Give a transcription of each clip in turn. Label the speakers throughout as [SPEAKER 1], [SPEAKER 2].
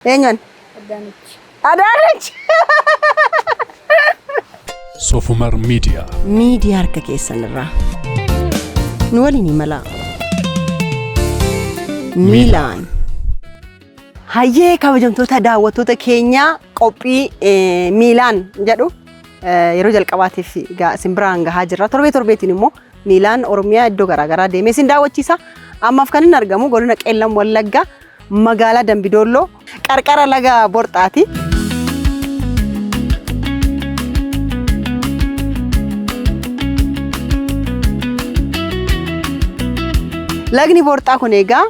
[SPEAKER 1] Eenyuun? Adaanech. Adaanech!
[SPEAKER 2] Sofumar Media. Miidiyaa harka
[SPEAKER 1] keessan irraa. Nu waliin imalaa. Miilaan. Hayyee kabajamtoota daawwattoota keenyaa qophii eh, miilaan jedhu eh, yeroo jalqabaatiif ga- isin biraan gahaa jirra. Torbee torbeetiin immoo miilaan Oromiyaa iddoo garaagaraa deemee isin daawwachiisa. Ammaaf kan inni argamu godina Qeellam Wallaggaa Magaalaa Dambidoolloo qarqara laga Borxaati. Lagni Borxaa kun egaa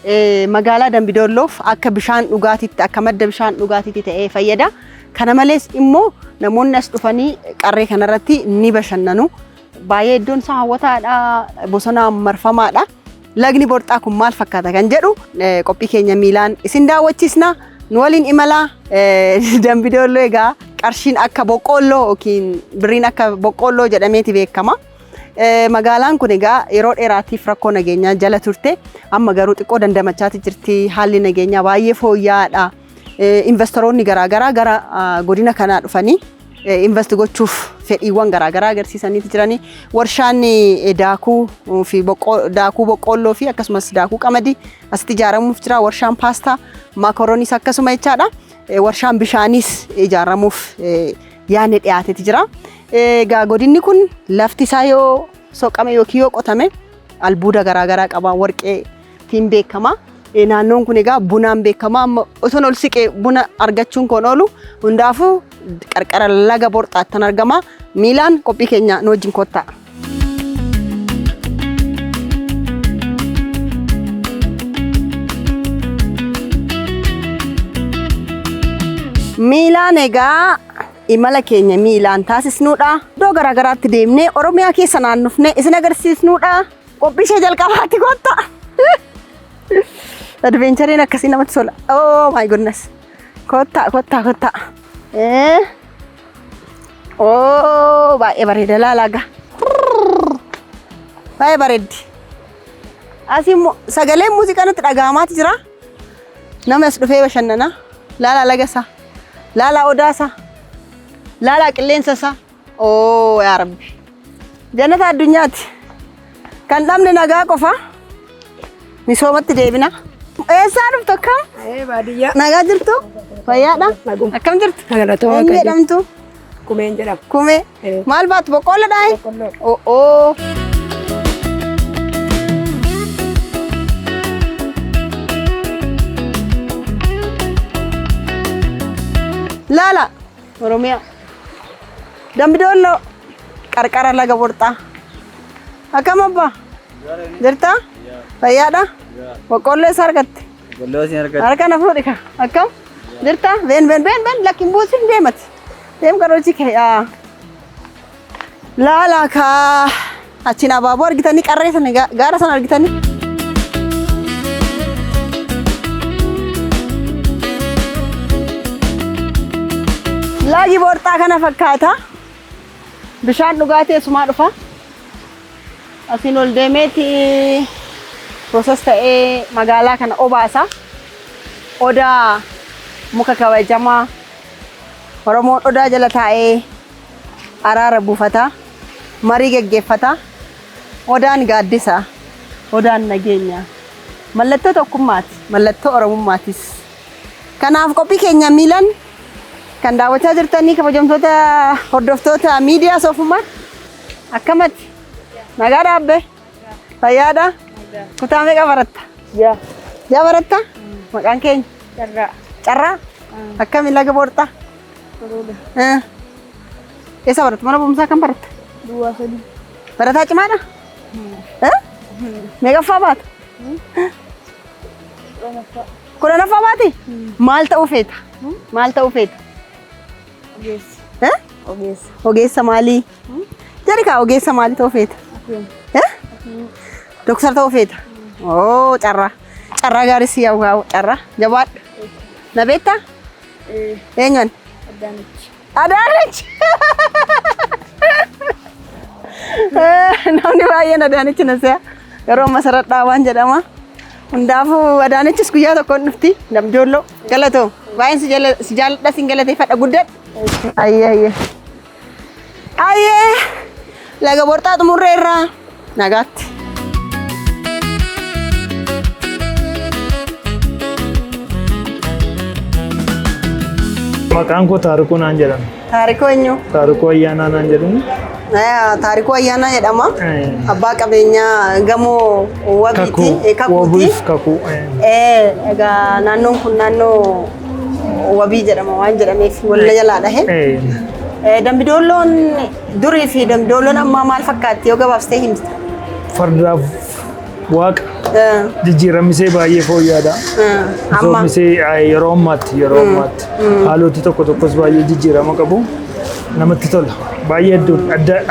[SPEAKER 1] eh, magaalaa Dambidoolloof akka bishaan dhugaatiitti akka madda bishaan dhugaatiitti ta'ee fayyada. Kana malees immoo namoonni as dhufanii qarree kanarratti ni bashannanu. Baay'ee iddoon isaa hawwataadha. Bosonaan marfamaadha. Lagni borxaa kun maal fakkaata kan jedhu eh, qophii keenya miilaan isin daawwachiisna. Nu waliin imala eh, dambidooloo egaa qarshiin akka boqqoolloo yookiin birriin akka boqqoolloo jedhameeti beekama. Eh, Magaalaan kun egaa yeroo dheeraatiif rakkoo nageenyaa jala turte amma garuu xiqqoo dandamachaati jirti haalli nageenyaa baay'ee fooyya'aadha. Invastaroonni garaagaraa gara godina kanaa dhufanii invast gochuuf fedhiiwwan garaagaraa agarsiisanii jiranii. Warshaan daakuu fi daakuu boqqoolloo fi akkasumas daakuu qamadii asitti ijaaramuuf jira. Warshaan paastaa maakorooniis akkasuma jechaadha. Warshaan bishaaniis ijaaramuuf yaadni dhiyaateeti jira. Egaa godinni kun lafti isaa yoo soqame yookiin yoo qotame albuuda garaagaraa qaba warqee ittiin beekama. Eh, Naannoon kun egaa bunaan beekama. Amma osoon ol siqee buna argachuun koon oolu hundaafuu qarqara laga borxaattan argama. Miilaan qophii keenya nu wajjin kottaa. Miilaan egaa imala keenya miilaan taasisnuudha. Iddoo garaagaraatti deemnee Oromiyaa keessa naannofnee isin agarsiisnuudha. Qophii ishee jalqabaatti gotta. Advenchariin akkasii namatti tola. Oh my goodness. Kottaa kottaa kottaa. Eh. Oh baay'ee bareeda laalaaga. Baay'ee bareeddi. Asii immoo sagaleen muuziqaa nutti dhaga'amaati jira. Namni as dhufee bashannana. Laalaa laga isaa. Laalaa odaa isaa. Laalaa qilleensa isaa. Oo yaa rabbi. Jannata addunyaati. Kan dhabne nagaa qofa. Misoomatti deebina. Eessaa dhuftu akkam? Ee baadiyyaa. Nagaa
[SPEAKER 3] jirtu?
[SPEAKER 1] Fayyaadha? Naguma. Akkam jirtu? Galatoo Eenyu Waaqayyo. jedhamtu? Kumeen jedhama.
[SPEAKER 3] Kumee. Ee. Maal
[SPEAKER 1] baatu boqqoolloo dhaayi? Boqqolloo.
[SPEAKER 3] Oo oo.
[SPEAKER 1] Laala Oromiyaa. Dambi Doolloo. Qarqara laga Borxaa. Akkam abbaa? Jirtaa? Fayyaadha? Boqqoolloo eessa argatte?
[SPEAKER 4] Harka na fuudhi kaa.
[SPEAKER 1] Akkam? Jirtaa? Been been been been lakki hin buusin deemati. Deem garoochi kee. yaa. Laalaa kaa achiin abaaboo argitanii qarree sana ga- gaara sana argitanii. Laagi boorxaa kana fakkaata. Bishaan dhugaatii eessumaa dhufa. Asiin ol deemeeti pirooses ta'ee magaalaa kana obaasa. Odaa muka kabajamaa Oromoon odaa jala taa'ee araara buufata, marii geggeeffata. Odaan gaaddisa, Odaan nageenya. Mallattoo tokkummaati, mallattoo Oromummaatis. Kanaaf qophii keenya miilan kan daawwachaa jirtanii kabajamtoota hordoftoota miidiyaa soofummaa akkamatti nagaa dhaabbe fayyaadha kutaa meeqa baratta? Yaa. Yaa baratta? Maqaan keenya? Carraa. Carraa? Akkami laga borxaa? Bareeda. Eh, Eessa baratta? Mana barumsaa kan baratta? Duwwaa sadii.
[SPEAKER 3] Barataa cimaadha?
[SPEAKER 1] Eh? Meeqaffaa baata? Dhanaffaa. Kudhanaffaa baati? Maal ta'uu feeta? Maal ta'uu feeta? Ogeessa. Eh?
[SPEAKER 3] Ogeessa. Ogeessa maalii?
[SPEAKER 1] Jedhi kaa ogeessa maalii ta'uu feeta? Akkuma. Eh? Doktar ta'uu feeta? Oo carraa. Carraa gaarii si yaa'u gaa'u carraa. Jabaadhu. Na beektaa? Eenyuun? Adaanech. Namni baay'een Adaanech na se'a. Yeroo masaradhaa waan jedhama. Hundaafuu Adaanechis guyyaa tokko hin dhufti. Damjoolloo galatoo. Baay'een si jala- si jaalladha sin galateeffadha guddadha. Ayyee ayyee. Ayyee laga borxaa xumurree irraa nagaatti.
[SPEAKER 4] Maqaan koo Taarikuu naan jedhama. Taarikoo eenyu?
[SPEAKER 1] Taarikuu Ayyaanaa naan
[SPEAKER 4] jedhamu. Eh, Taarikuu
[SPEAKER 1] Ayyaanaa jedhama. Eh. Abbaa qabeenyaa gamoo wabiiti. Kakuu. eh, Kakuuti. Wabuuf kakuu.
[SPEAKER 4] eh. Eh, egaa
[SPEAKER 1] naannoon kun naannoo wabii jedhama waan jedhameef walla jalaa dhahe. Dambidoolloon durii fi dambidoolloon ammaa maal fakkaatti yoo gabaabsitee himta? Fardaaf
[SPEAKER 4] waaqa jijjiiramisee baay'ee fooyya'aadha. Amma yeroo ammaatti yeroo ammaatti haaloti tokko tokkos baay'ee jijjiirama qabu. Namatti tola. Baay'ee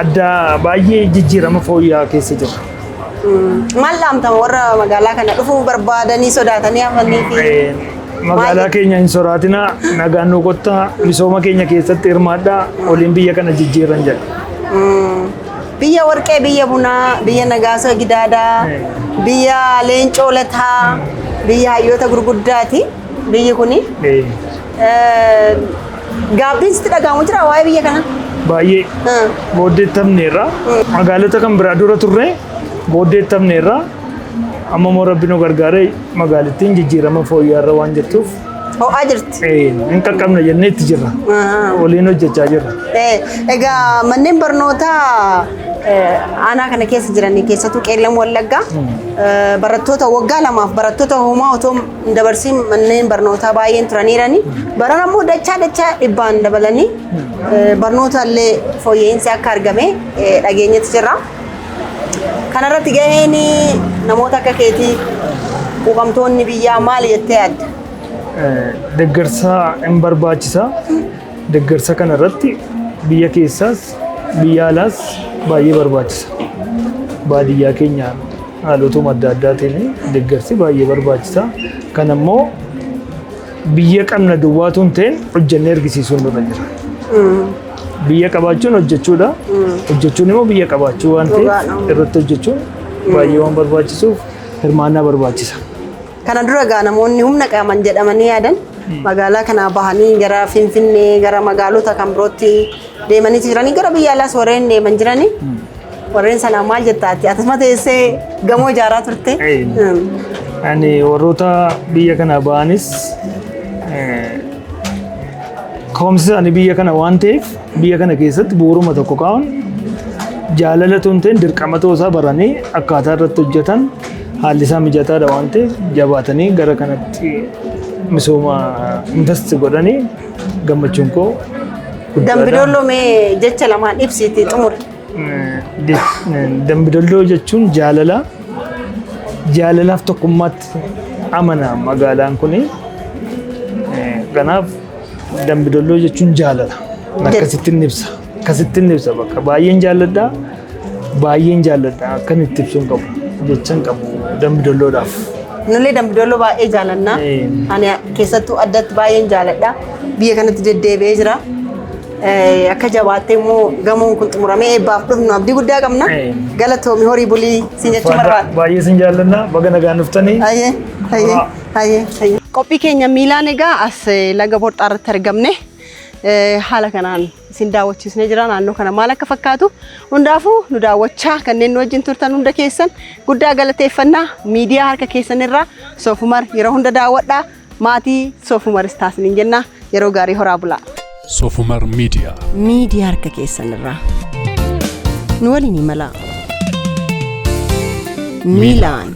[SPEAKER 4] adda baay'ee jijjiirama fooyya'aa keessa jira. Maal
[SPEAKER 1] dhaamtama warra magaalaa kana dhufuu barbaadanii sodaatanii hafanii fi Eh, Magaalaa
[SPEAKER 4] keenya hin soraatinaa, nagaan nu kottaa, misooma keenya keessatti hirmaadhaa, waliin biyya kana jijjiiran jedha. biyya
[SPEAKER 1] warqee, biyya bunaa, biyya nagaasa gidaadaa, biyya leencoo lataa, biyya hayyoota gurguddaati biyyi kuni. Eh, Eh, Gaabbiin sitti dhaga'amu jira waa'ee biyya kana. Baay'ee Ah.
[SPEAKER 4] booddeettamneerra. Magaalota kan biraa dura turre booddeettamneerra. Amma immoo rabbi nu gargaaree magaalittiin jijjiirama fooyya'aarra waan jirtuuf Ho'aa jirti.
[SPEAKER 1] eh, hin qaqqabne
[SPEAKER 4] jennee itti jirra. Ah. Waliin hojjechaa jirra. Eh, Egaa
[SPEAKER 1] manneen barnootaa eh, aanaa kana keessa jiran keessattuu qeellan wallaggaa eh, barattoota waggaa lamaaf barattoota homaa otoo hin dabarsiin manneen barnootaa baay'een turaniirani. Barana immoo dachaa dachaa dhibbaan dabalanii eh, barnoota illee fooyya'insi akka argame eh, dhageenyetti jirra. Kanarratti gaheen namoota akka keetii quuqamtoonni biyyaa maali jettee yaadda? Eh,
[SPEAKER 4] Deeggarsa hin barbaachisa. Deggarsa kana irratti biyya keessaas biyya alaas baay'ee barbaachisa. Baadiyyaa keenya haalotuma adda addaatiin deggarsi baay'ee barbaachisa. Kan ammoo biyya qabna duwwaatu hin ta'in hojjennee argisiisuun nurra jira. Biyya qabaachuun hojjechuudha. Hojjechuun immoo biyya qabaachuu waan ta'eef irratti hojjechuun baay'ee waan barbaachisuuf hirmaannaa barbaachisa. Kana dura
[SPEAKER 1] egaa namoonni humna qaaman jedhamanii yaadan magaalaa kanaa bahanii gara Finfinnee gara magaalota kan birootti deemanii jiranii gara biyya alaas warreen deeman jiranii warreen sanaa maal jettaa ati atuma teessee gamoo ijaaraa turte. Ee. Mm.
[SPEAKER 4] Ani warroota biyya kana ba'anis eh, ka'umsi isaanii biyya kana waan ta'eef biyya kana keessatti bu'uuruma tokko kaa'uun jaalala tun ta'in dirqama ta'uu isaa baranii akkaataa irratti hojjetan Haalli isaa mijataadha waan ta'eef jabaatanii gara kanatti misooma invest godhanii gammachuun koo guddaadha. Dambidolloo mee
[SPEAKER 1] jecha lamaan ibsiitii xumuri.
[SPEAKER 4] Dambidolloo jechuun jaalala. Jaalalaaf tokkummaatti amana magaalaan kuni. Kanaaf dambidolloo jechuun jaalala. Akkasittiin ibsa. Akkasittiin ibsa bakka baay'een jaalladha. Baay'een jaalladha akkan itti ibsuun qabu jechan qabu dambi dolloodhaaf. Nullee
[SPEAKER 1] dambidolloo baay'ee jaalanna. Ee. Ani keessattuu addatti baay'een jaaladha. Biyya kanatti deddeebi'ee jira. Eh, Akka jabaattee immoo gamoon kun xumuramee eebbaaf dhufnu abdii guddaa qabna. Ee. Galatoomi horii bulii siin jechuu barbaada. Baay'ee sin jaalladha
[SPEAKER 4] baga nagaan dhuftanii. Hayyee, hayyee, hayyee, hayyee.
[SPEAKER 1] Qophii keenya miilaan egaa as eh, laga borxaa irratti argamne. haala kanaan isin daawwachiisnee jira naannoo kana maal akka fakkaatu hundaafuu nu daawwachaa kanneen nu wajjin turtan hunda keessan guddaa galateeffannaa miidiyaa harka keessan irraa soofumar yeroo hunda daawwadhaa maatii soofumar istaasiniin jennaa yeroo gaarii horaa bulaa. Soofumar
[SPEAKER 2] miidiyaa. Miidiyaa harka
[SPEAKER 1] keessan irraa nu waliin imalaa. Miilaan.